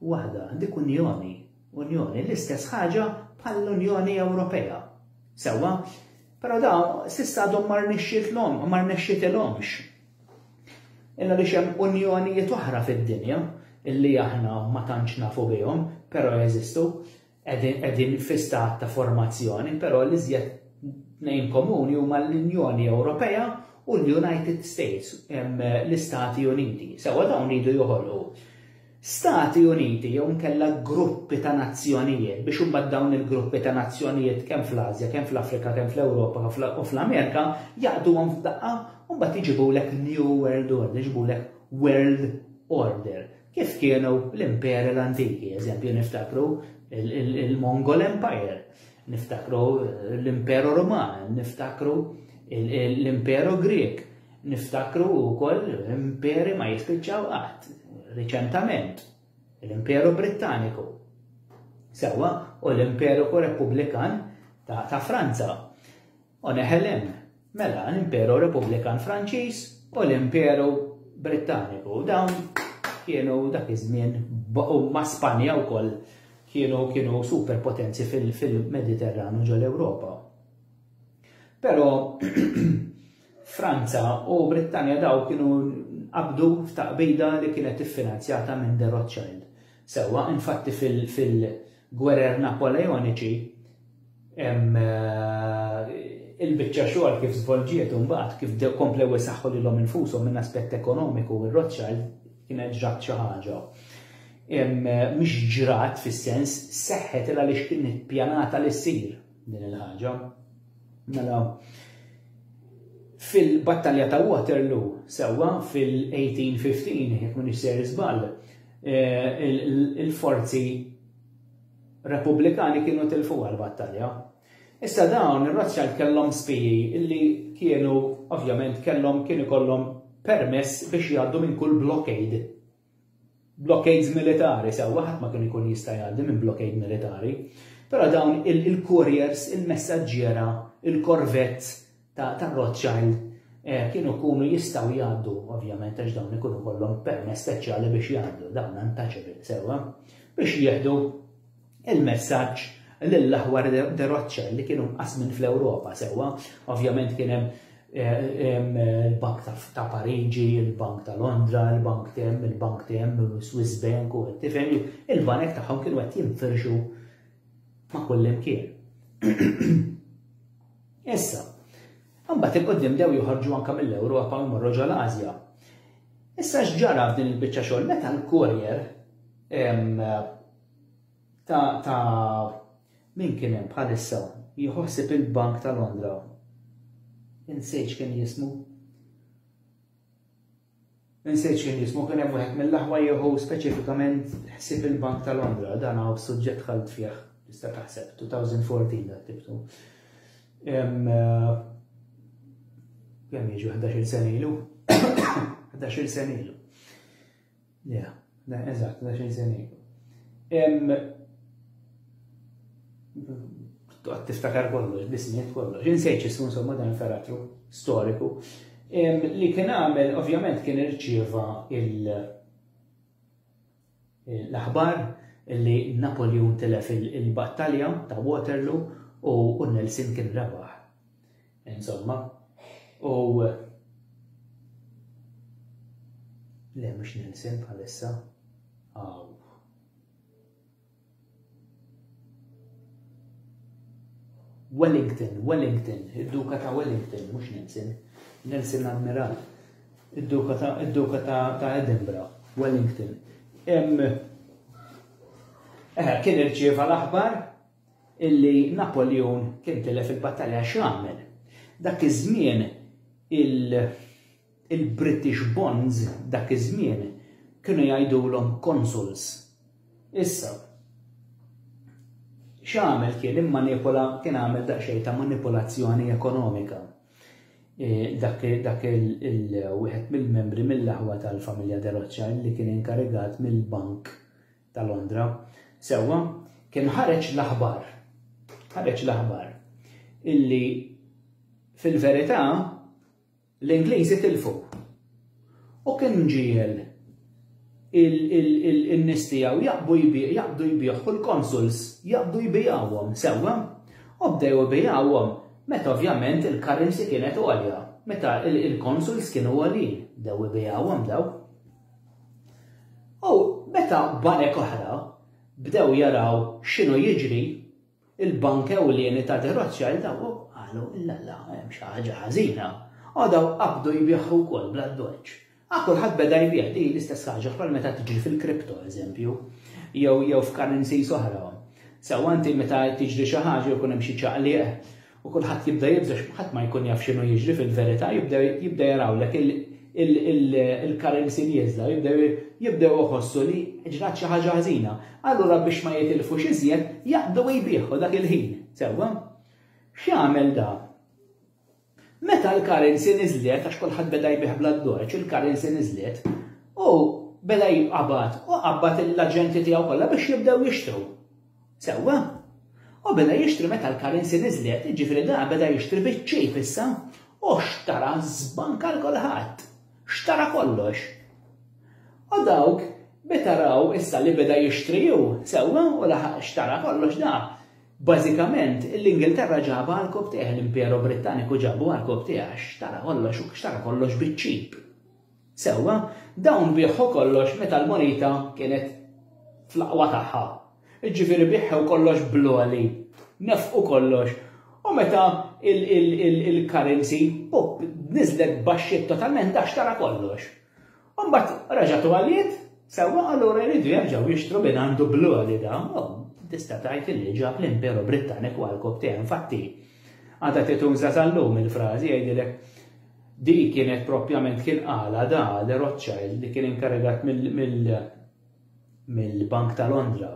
waħda dik Unjoni, Unjoni, l-istess ħaġa bħall-Unjoni Ewropea. Sewwa? Però da s'issa għadhom ma rnexxitlhom, ma rnexxitilhomx. Illa li xem unjonijiet oħra fid-dinja illi aħna ma tantx nafu bihom, però jeżistu, qegħdin fi stat ta' formazzjoni, però l-iżjed tnejn komuni huma l-Unjoni Ewropea u l-United States, l-Istati Uniti. Sewa dawn iridu joħolqu Stati Uniti jew nkella gruppi ta' nazzjonijiet biex imbagħad dawn il-gruppi ta' nazzjonijiet kemm fl-Asja, kemm fl-Afrika, kemm fl-Ewropa u fl-Amerika jaqduhom f'daqqa u mbagħad iġibulek New World Order, iġibulek World Order Kif kienu l-imperi l-antiki, eżempju niftakru il-Mongol Empire, niftakru l-Imperu Roman, niftakru l-Imperu Grek, niftakru wkoll imperi ma jispiċċaw qatt, riċentament, l-Imperu Brittaniku. Sewa, u l-Imperu Repubblikan ta' Franza. u Nehelem, mela l-Imperu Repubblikan Franċiż u l-Imperu Brittaniku. Dawn kienu dak iż-żmien u ma' Spanja wkoll kienu kienu superpotenzi fil-Mediterranu ġol Ewropa. Però Franza u Brittanja daw kienu qabdu f'taqbida li kienet iffinanzjata minn The Rothschild. Sewa, infatti fil-gwerer Napoleoniċi, Hemm il-biċċa xogħol kif żvolġiet u mbagħad kif bdew komplew isaħħu lilhom infushom minn aspett ekonomiku u r-Rothschild kienet ġrat xi ħaġa. Mhix ġrat fis-sens seħħet il għaliex kien ippjanata li ssir din il-ħaġa. Mela, fil-battalja ta' Waterloo, sewwa fil-1815, jekk minn ser żball, eh, il-forzi Repubblikani kienu tilfuha l-battalja. Issa dawn ir-Rothschild kellhom spiji li kienu ovvjament kellhom kien ikollhom permess biex jgħaddu minn kull blockade. Blockades militari sewwa ħadd ma kien ikun jista' jgħaddi minn blockade militari. Però dawn il-couriers, il-messaġġiera, il-korvett ta' Rothschild eh, kienu jkunu jistgħu jgħaddu, ovvjament għax dawn ikunu kollhom permess speċjali biex jgħaddu dawn untouchable sewwa, biex jieħdu il-messaġġ lill-aħwar de Rothschild li kienu mqasmin fl-Ewropa sewwa, ovvjament kien hemm il-Bank ta' Pariġi, il-Bank ta' Londra, il-Bank tem, il-Bank tem, Swiss Bank u tifhem il-banek tagħhom kienu qed jinfirxu ma' kullimkien. Issa, imbagħad il-quddiem bdew joħorġu anke mill-Ewropa u jmorru ġol Asja. Issa x'ġara f'din il-biċċa xogħol meta l-courier ta' ta' min kien hemm bħalissa jħossib il-Bank ta' Londra. Insejx kien jismu. Insiet xi nismu, kien hemm wieħed mill-aħwa jieħu speċifikament ħsieb il-Bank ta' Londra, dan hu suġġett dħalt fih, tista' taħseb, 2014 dak tibtu. Kemm jiġu 11 sena ilu? 11 sena ilu. Yeah. Eżatt, da xejn se ngħidu. Tiftakar kollox, bismiet kollox, insejċ ismu insomma dan il-karattru storiku. Li kien għamel, ovvjament, kien irċieva il- l-aħbar li Napoleon telef il-battalja ta' Waterloo u Nelson kien rebaħ. Insomma, u Le mhux Nelson bħalissa. Aw. Wellington, Wellington, id-duka ta' Wellington, mhux Nelson. Nelson Admiral. Id-duka ta' id-duka ta' ta' Edinburgh, Wellington. Em, eh, kien irċieva l-aħbar illi Napoljun kien tilef il-battalja x'għamel? Dak iż-żmien il-British bonds dak iż-żmien kienu jgħidulhom consuls. Issa, x'għamel kien immanipola kien għamel daqsxejn ta' manipolazzjoni ekonomika. E, dak il-wieħed mill-membri mill-aħwa tal-familja Deroċċa li kien inkarigat mill-bank ta' Londra. Sewwa, kien ħareġ l-aħbar, ħareġ l-aħbar illi fil-verità l-Ingliżi tilfu. U kien ġiel il-nis tiegħu jaqbu jbieħ, jaqdu jbieħ, kull konsuls jaqdu jbijawhom sewwa, u bdew jbijawhom meta ovvjament il-currency kienet għolja, meta il-konsuls kienu għolin, bdew jbijawhom daw. U meta banek oħra bdew jaraw x'inhu jiġri, il-Bank Ewlieni ta' Derozja daw qalu illalla hemm xi ħaġa ħażina. U daw qabdu jbieħu wkoll bla ddoċċ. A kulħadd beda jbigħ li l-istess ħaġa bħal meta tiġri fil-kripto eżempju, jew jew f'karenzi oħra. Sew anti meta tiġri xi ħaġa jkun hemm xi ċaqliq u kulħadd jibda jibża' x'ħadd ma jkun jaf x'inhu jiġri fil-verità, jibda jarawlek il-currency nieżla, jibdew iħossu li ġrat xi ħaġa ħżina. Allura biex ma jitilfux iżjed, jaqbdu jbigħu dak il-ħin, sewwa? X'jagħmel da? Meta l-currency niżlet, għax kulħadd beda jbih bla dorċ, il-currency niżlet, u beda jibqabad, u qabad l-aġenti tiegħu kollha biex jibdew jixtru. Sewwa. U beda jixtri meta l-currency niżlet, jiġifieri da beda jixtri biċ-cheap issa u xtara żbanka l kulħadd. Xtara kollox. U dawk meta raw issa li beda jixtri hu, sewwa, u laħaq xtara kollox da, bażikament l-Ingilterra ġabha għal kub tiegħi, l-Imperu Brittaniku ġabu għal kub tiegħi għax xtara kollox u xtara kollox biċ-cheap. Sewwa, dawn biegħu kollox meta l-moneta kienet fl-aqwa tagħha. Jiġifieri biegħu kollox bl-għoli, nefqu kollox, u meta l-currency niżlet baxxiet totalment da xtara kollox. U mbagħad reġgħet u għaliet, sewwa allura jridu jerġgħu jixtru minn għandu bl-għoli da. Tista' tgħid li ġab l-Imperu Brittaniku għall-kobtejn, infatti għadha tituża sal-lum il-frażi jgħidilek Dik kienet proprjament kien qalha da li Rothschild li kien inkarigat mill-Bank ta' Londra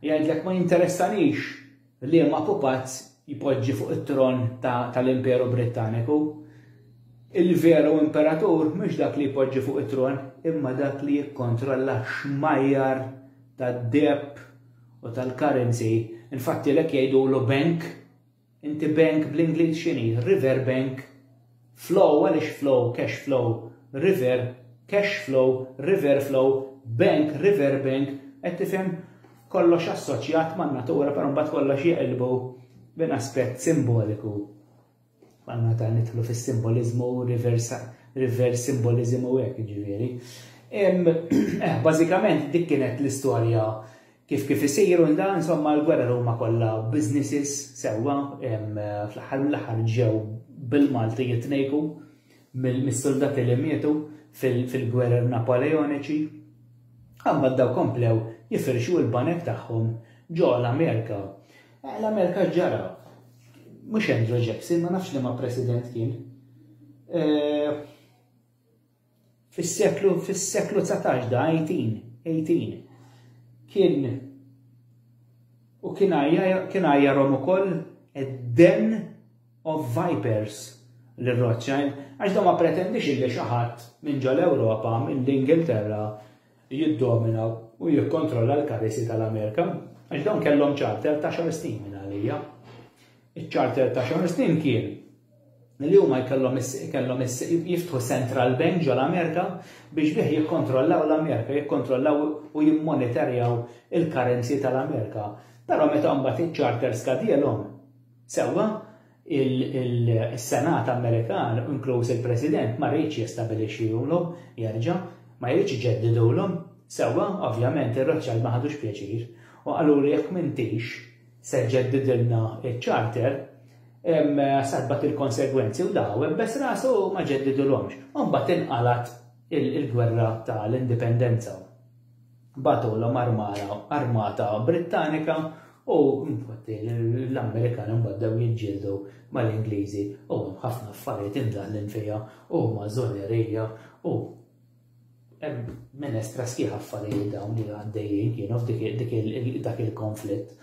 jgħidlek ma jinteressanix liema pupazz jpoġġi fuq it-tron tal-Imperu Brittaniku. Il-veru imperatur mhux dak li jpoġġi fuq it-tron imma dak li jikkontrolla xmajjar tad-deheb u tal-currency. Infatti lek jgħidulu bank Inti bank bl-Ingliż x'inhi? River bank Flow għaliex flow, cash flow, river, cash flow, river flow, bank, river bank, qed tifhem kollox assoċjat man-natura però mbagħad kollox jeqilbu minn aspett simboliku. Għal meta nidħlu fis-simboliżmu reversa reverse symbolism u hekk jiġifieri. Eh, bażikament dik kienet l-istorja Kif kif isir u nda insomma l-gwerer huma kollha businesses sewwa fl-aħħar mill-aħħar ġew bil-Malti jitnejku mis-suldati li mietu fil-gwerer Napoleoniċi. Imbagħad daw komplew jifirxu l-banek tagħhom ġo l-Amerika. L-Amerika x'ġara? Mhux Andrew Jackson, ma nafx liema President kien. Fis-seklu fis-seklu dsatax da 18 18 kien u kien kien għajjarhom ukoll id-den of vipers lil Rothschild għax da ma pretendix illi xi ħadd minn ġol Ewropa mill-Ingilterra jiddomina u jikkontrolla l-karisi tal-Amerika għax dawn kellhom charter ta' xar snin minn għalija. Iċ-charter ta' Sean Steen kien li huma jkellhom kellhom jiftħu central bank ġo l-Amerika biex bih jikkontrollaw l-Amerika, jikkontrollaw u jimmonitorjaw il-currency tal-Amerika. Però meta mbagħad iċ-charter skadielhom, sewwa il-Senat Amerikan, inkluż il-President, ma rridx jistabilixxihulhom jerġa', ma jridx iġeddidulhom, sewwa, ovvjament ir-Rothschild ma ħadux pjaċir u qalulu jekk m'intix se jġeddidilna ċ-charter, saħbat il-konsegwenzi u daw ibbes rasu u ma ġeddidulhomx. U mbagħad inqalgħet il-gwerra ta' l-Indipendenza. Bagħtulhom armata Brittanika u l-Amerikani mbagħad dew jiġġieldu mal-Ingliżi u hemm ħafna affarijiet imdaħħlin fiha u huma żonerija u Hemm minestra sħiħa affarijiet dawn li għaddejjin kienu f'dik dak il-konflitt.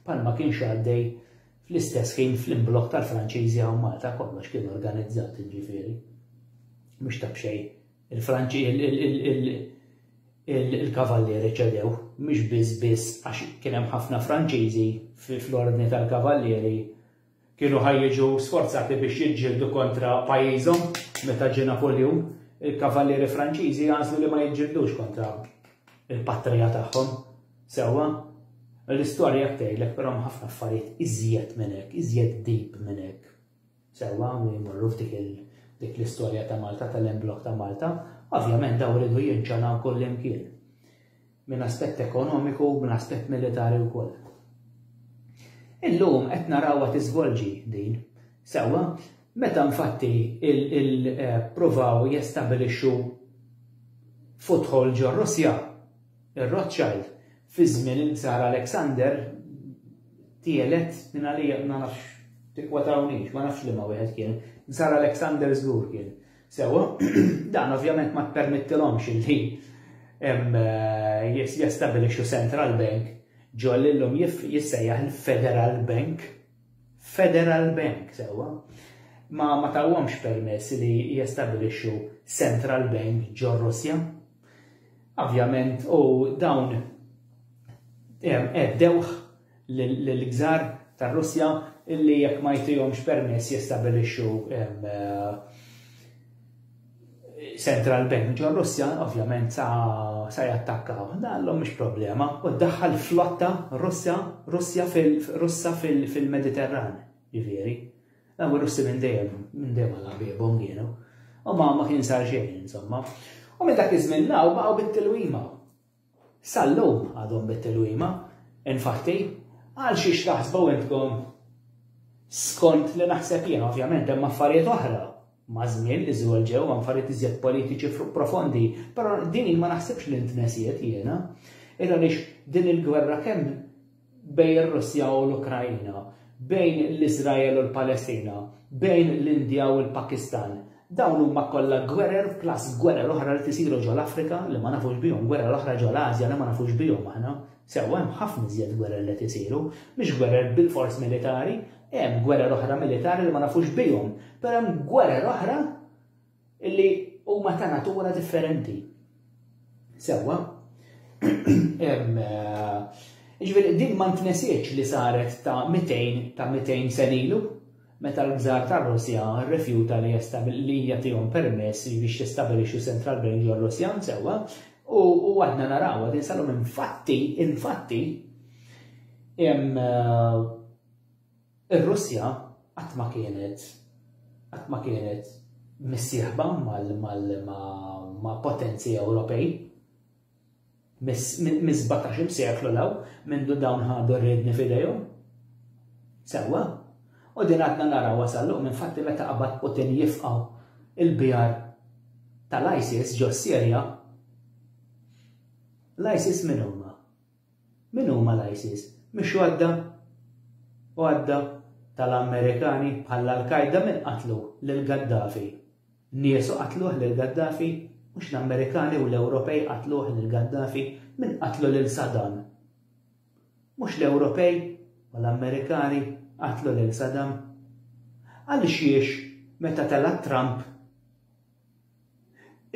Palma kienx għaddej fl-istess ħin fl-imblokk tal-Franċiżi hawn Malta kollox kien organizzat ġifieri. Mhux ta' b'xejn. Il-Franċi il-kavallieri ċedew, mhux biss biss għax kien hemm ħafna Franċiżi fl-ordni tal-kavallieri Kienu ħa jiġu sforzati biex jiġġieldu kontra pajjiżhom meta ġie Napoljun, il-kavallieri Franċiżi għażlu li ma jiġġildux kontra l-patrija tagħhom. Sewwa? L-istorja hekk tgħidlek, però hemm ħafna affarijiet iżjed minn hekk, iżjed deep minn hekk. Sewwa, u jmorru f'dik il- dik l-istorja ta' Malta, tal-emblok ta' Malta, ovvjament daw iridu jinċanaw kullimkien. minn aspett ekonomiku u minn aspett militari wkoll. Illum qed narawha tiżvolġi din. Sewwa, meta infatti il-provaw eh, jestabilixxu futħol ġo Russja, ir-Rothschild, fi żmien il-Ksar Alexander, tielet minn għalija ma nafx tikwatawniex, ma nafx li ma wieħed kien, Ksar Alexander żgur kien. Sewa, dan ovvjament ma tpermettilhomx li eh, jistabilixxu central bank ġol illum jissejjaħ il-Federal Bank. Federal Bank, sewa. Ma ma tawhomx permess li jistabilixxu central bank ġol Russja. Ovvjament, u dawn eddewħ lill-Gżar tar-Russja li jekk ma jtihomx permess jistabilixxu central bank ġor-Russja, ovvjament sa, sa jattakkaw. Dallhom mhux problema. U ddaħħal flotta Russja, Russja fil, Russa fil-Mediterran, fil ġifieri. Daw ir-Russi minn dejjem, minn dejjem għal ħbiebhom kienu. U ma ma kien sar xejn, insomma. U minn dak iż-żmien law baqgħu bit-tilwima. Sal-lum għadhom mit-tilwima, infatti, għal xiex taħsbu intkom? Skont li naħseb jien, ovvjament hemm affarijiet oħra maż-żmien li żwelġew, affarijiet iżjed politiċi profondi, però din ma naħsibx li ntnesiet jiena. Ira lix din il-gwerra kemm bejn ir-Russja u l-Ukraina, bejn l-Iżrael u l-Palestina, bejn l-Indja u l-Pakistan. Dawn huma kollha gwerer plus gwerer oħra li qed isiru ġo l-Afrika li ma nafux bihom, gwerer oħra ġo l-Ażja li ma nafux bihom aħna. Sewwa hemm ħafna iżjed gwerer li qed isiru, mhux gwerer bilfors militari, hemm gwerer oħra militari li ma nafux bihom, però hemm gwerer oħra Illi huma ta' natura differenti. Sewwa. Eh, ġifieri din ma ntnesiex li saret ta' 200 ta' 200 senilu meta l-gżar tar-Russja rrifjuta li li jagħtihom permess biex jistabilixxu Central Bank ġol Russja sewwa u għadna naraw din salum infatti infatti eh, Ir-Russja qatt ma kienet qatt ma kienet missieħba ma' potenzi Ewropej. Mis-17-il seklu 'l hawn, mindu dawn ħadu r-riedni f'idejhom. Sewwa. U din għadna narawha sal-lum, infatti meta qabad Putin jifqa' l-bjar tal-ISIS ġo s-Sirja, l-ISIS min huma? Min huma l-ISIS? Mhix għodda? Għodda tal-Amerikani bħall Al-Qaeda min qatlu lil Gaddafi? Niesu qatluh lil Gaddafi? Mhux l-Amerikani u l-Ewropej qatluh lil Gaddafi? Min qatlu lil Saddam? Mhux l-Ewropej u l-Amerikani qatlu lil Saddam? Għalixiex meta tela' Trump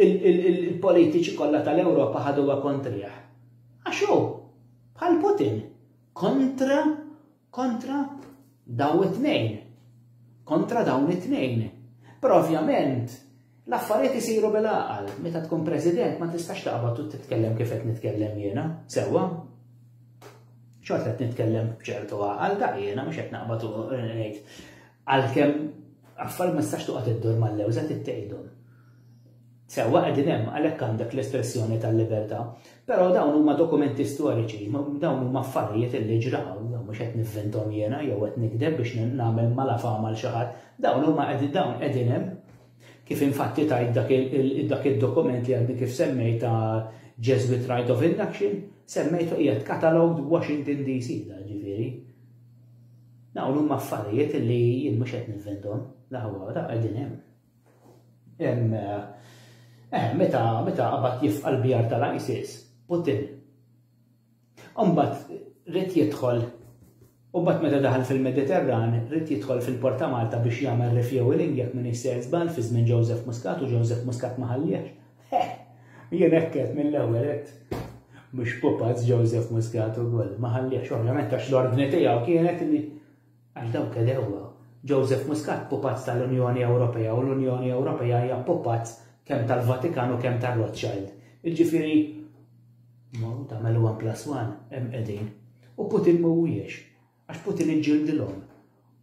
Il-politiċi kollha tal-Ewropa ħaduha kontrih. Għax hu, bħal Putin, kontra, kontra daw it-tnejn. Kontra dawn it-tnejn. Però ovvjament, L-affarijiet isiru bil-għaqal, meta tkun president ma tistax taqbad u titkellem kif qed nitkellem jiena, sewwa. Xort qed nitkellem b'ċertu għaqal ta' jiena mhux qed naqbad u ngħid Għalkemm affarijiet ma tistax toqgħod iddur mal-lewża trid tgħidhom. Sewwa qegħdin hemm għalhekk għandek l-espressjoni tal-libertà, però dawn huma dokumenti storiċi, dawn huma affarijiet li ġraw, mhux qed nivvintom jiena jew qed nikdeb biex nagħmel mala fama l xi ħadd, dawn huma qegħdin dawn qegħdin hemm kif infatti tajt dak id-dokument li għandi kif semmej ta' Jesuit Right of Induction, semmejtu qiegħed katalog Washington DC, ġifieri. Dawn huma affarijiet li jien mhux qed ninventhom, la ħawha wara qegħdin hemm. Hemm eh, meta meta qabad jifqa' l-bjar tal-ISIS, Putin. Imbagħad rid jidħol U bat meta daħal fil-Mediterran, rrit jidħol fil-Port ta' Malta biex jagħmel refueling jekk minn se żball fi żmien Joseph Muscat u Joseph Muscat ma ħalliex. Heh! Jien hekk għedt mill-ewwel għedt mhux pupazz Joseph Muscat ukoll, ma ħalliex, ovvjament għax l-ordni tiegħu kienet li għax dawk għedewwa. Joseph Muscat pupazz tal-Unjoni Ewropea u l-Unjoni Ewropea hija pupazz kemm tal-Vatikan u kemm tar-Rothschild. Jiġifieri tagħmel one plus one hemm qegħdin. U Putin mhuwiex. Għax Putin iġġildilhom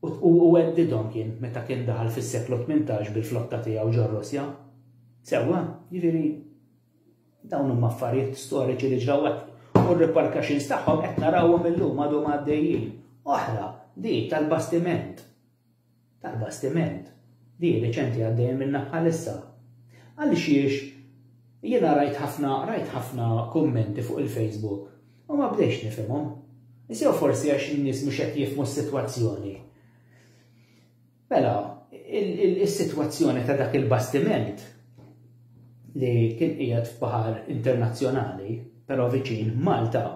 u heddidhom kien meta kien daħal fis-seklu tmintax bil-flotta tiegħu ġor-Russja. Sewwa, jiġifieri dawn huma affarijiet storiċi li ġraw hekk u r-repercussions tagħhom qed narawhom illum għadhom għaddejjin. Oħra, din tal-bastiment tal-bastiment li hi riċenti għaddejja minnha bħalissa. Għalixiex jiena rajt ħafna rajt ħafna kummenti fuq il-Facebook u ma bdejx nifhimhom. Is jew forsi għax in-nies mhux qed jifhmu s-sitwazzjoni. Mela, is-sitwazzjoni ta' dak il-bastiment li kien qiegħed f'baħar internazzjonali, però viċin Malta,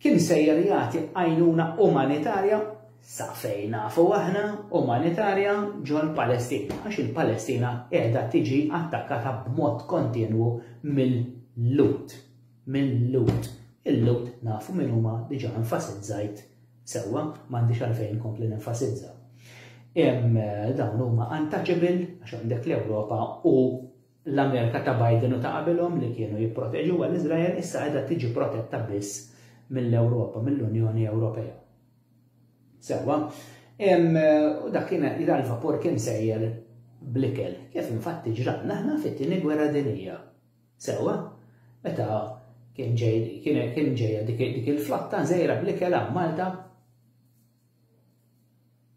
kien sejjer jagħti għajnuna umanitarja, sa fejn nafu aħna, umanitarja ġol-Palestina, għax il-Palestina qiegħda tiġi attakkata b'mod kontinwu mill-Lhud. Mill-Lhud. Il-Lhud nafu min huma diġà enfasizzajt sewwa, m'għandix għalfejn kompli nenfasizza. Dawn huma untouchable għax għandek l-Ewropa u l-Amerika ta' Biden u ta' qabilhom li kienu jipproteġuha l-Iżrael issa qiegħda tiġi protetta biss mill-Ewropa, mill-Unjoni Ewropea. Sewwa, u dak kien l-vapur kien sejjer blikel, kif infatti ġralna aħna fit-tieni gwerra dinija. Sewwa, meta kien ġejja dik il-flotta żejra blikel Malta,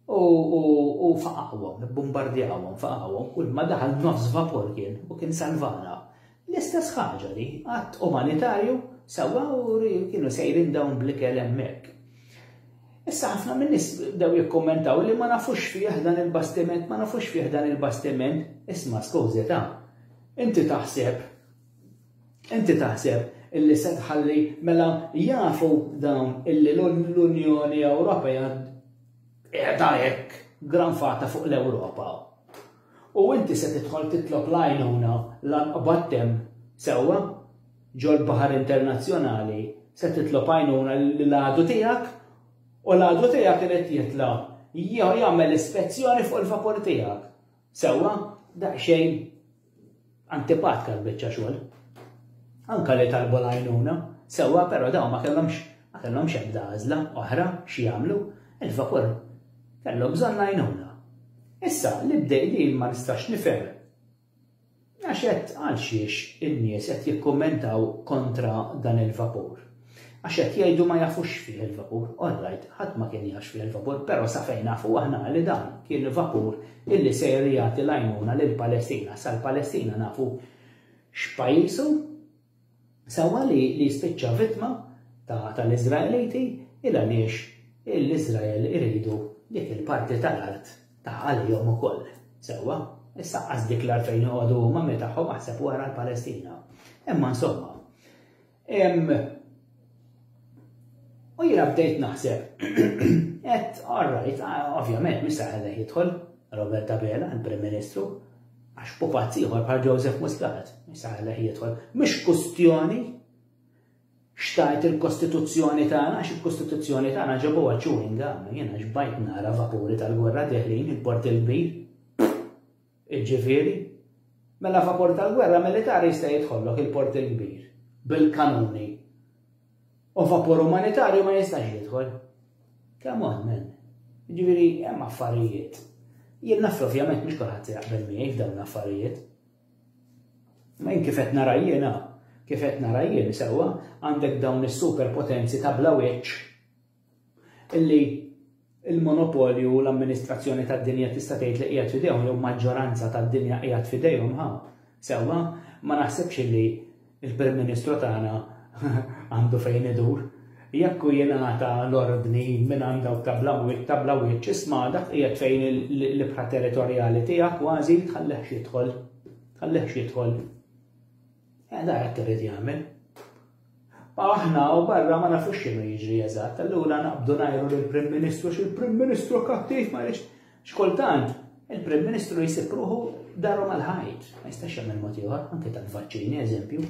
U, u, u faqawhom, ibbumbardjawhom, faqawhom, kull ma daħal nofs vapur kien, u kien salvana. L-istess ħaġa di, att umanitarju, sewwa u kienu sejrin dawn bl-ikel hemmhekk. Issa ħafna min-nies bdew jikkummentaw li ma nafux fih dan il-bastiment, ma nafux fih dan il-bastiment, isma' skużita, inti taħseb Inti taħseb illi se tħalli mela jafu dawn illi l-Unjoni Ewropea qiegħda hekk granfata fuq l-Ewropa? U inti se tidħol titlob l-għajnuna l-anqbad temm sewwa ġol-baħar internazzjonali se titlob għajnuna li l-għadu tiegħek u l-għadu tiegħek irid jitla' jagħmel ispezzjoni fuq il-vapur tiegħek. Sewwa, daqsxejn Antipatka l-biċċa xogħol. Anka li talbu l-għajnuna, sewwa però dawn ma kellhomx ma kellhomx ebda għażla oħra xi jagħmlu, il-vapur kellhom bżonn għajnuna. Issa li bdej li ma nistax nifhem għax qed għal xiex in-nies qed jikkummentaw kontra dan il-vapur. Għax qed jgħidu ma jafux x'fih il-vapur. All right, ħadd ma kien jaf x'fih il-vapur, però sa fejn nafu aħna li dan kien vapur illi sejr jagħti l-għajnuna lill-Palestina. Sa l-Palestina nafu x'pajjiż hu. Sewwa li jispiċċa vittma tal-Iżraeliti il għaliex l-Iżrael iridu dik il-parti tal-art ta' għalihom ukoll. Sewwa, issa qas dik l-art fejn joqogħdu huma minn tagħhom aħseb wara l-Palestina. Imma insomma, U jina bdejt naħseb, et, all right, ovvjament, mista ħalla jidħol Robert Abela, il-Prim Ministru, għax u pazziħor bħal Joseph Muscat, mista ħalla jidħol, mux kustjoni xtajt il-Kostituzzjoni tagħna, għax il-Kostituzzjoni tagħna ġabu għacċu ingam, jena ġbajt nara vapuri tal-gwerra deħlin il-port il-bir. Iġġifieri? Mela favur tal-gwerra militari jista' jidħollok il-Port il-Kbir bil-kanuni u vapur umanitarju ma jistax jidħol. Come on, man. Iġifieri hemm affarijiet. Jien naf ovvjament mhux kulħadd jaqbel miegħi f'dawn l-affarijiet. Ma jien kif qed nara jiena, kif qed nara jien sewwa għandek dawn is-superpotenzi ta' bla wiċċ illi il-monopolju u l-amministrazzjoni tad-dinja tista' tgħid li qiegħed f'idejhom jew maġġoranza tad-dinja qiegħed f'idejhom ħa. Sewwa, ma naħsibx illi l-Prim Ministru tagħna għandu fejn idur. Jekk hu jingħata l-ordni minn għand dawk ta' bla wiċċ ta' bla wiċċ isma' dak qiegħed fejn l-ibħra territorjali tiegħek kważi tħallih x'jidħol. Tħallih x'jidħol. Eh, da hekk irid jagħmel. Aħna u barra ma nafux x'inhu jiġri eżatt, allura naqbdu ngħiru lill-Prim Ministru x'il-Prim Ministru kattiv ma jridx. X'kultant il-Prim Ministru jsib ruħu daru mal-ħajt, ma jistax jagħmel mod ieħor, anke tal-vaċċini eżempju.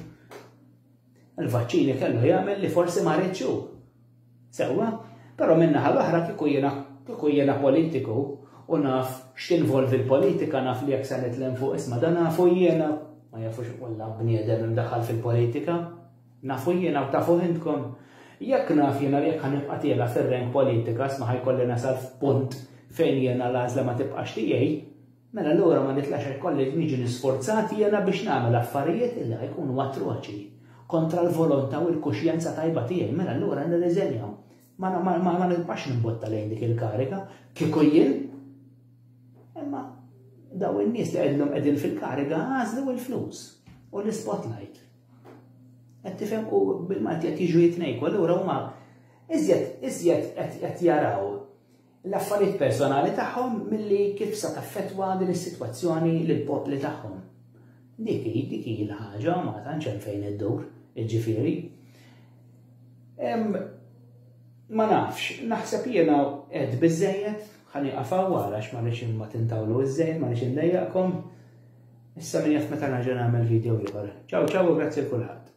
Il-vaċċini kellu jagħmel li forsi ma ridxu. Sewwa, però min-naħa l-oħra kieku jiena kieku jiena politiku u naf x'tinvolvi l-politika naf li jekk se nitlem fuq isma' dan nafu jiena, ma jafux kollha bniedem imdaħħal fil-politika, nafu jiena u tafuh intkom, jekk naf jiena li jekk ħa nibqa' tiela' fir-rank politika isma' ħa jkolli nasal f'punt fejn jiena l-għażla ma tibqax tiegħi, Mela allura ma nitlax hekk kollha jekk niġi nisfurzat jiena biex nagħmel affarijiet li jkunu atroċi, kontra l-volonta u l-kuxjenza tajba tiegħi, mela allura nirriżenja. Ma nibqax nimbotta lejn dik il-kariga, kieku jien. Imma daw in-nies li qegħdilhom qegħdin fil-kariga għażlu l-flus u l-spotlight. Qed tifhem u bil-Malti qed jiġu jitnejku, allura huma iżjed iżjed qed jaraw l-affarijiet personali tagħhom milli kif sa taffettwa din is-sitwazzjoni lill-popli tagħhom. Dik hi dik hi l-ħaġa ma tantx hemm fejn iddur, jiġifieri. Ma nafx, naħseb jiena qed biżejjed ħani qafaw wara ma nix ma tintawlu iż-żejn, ma nix indejjaqkom. Issa minn jaf meta nerġa' nagħmel video ieħor. Ċaw ċaw u grazzi kulħadd.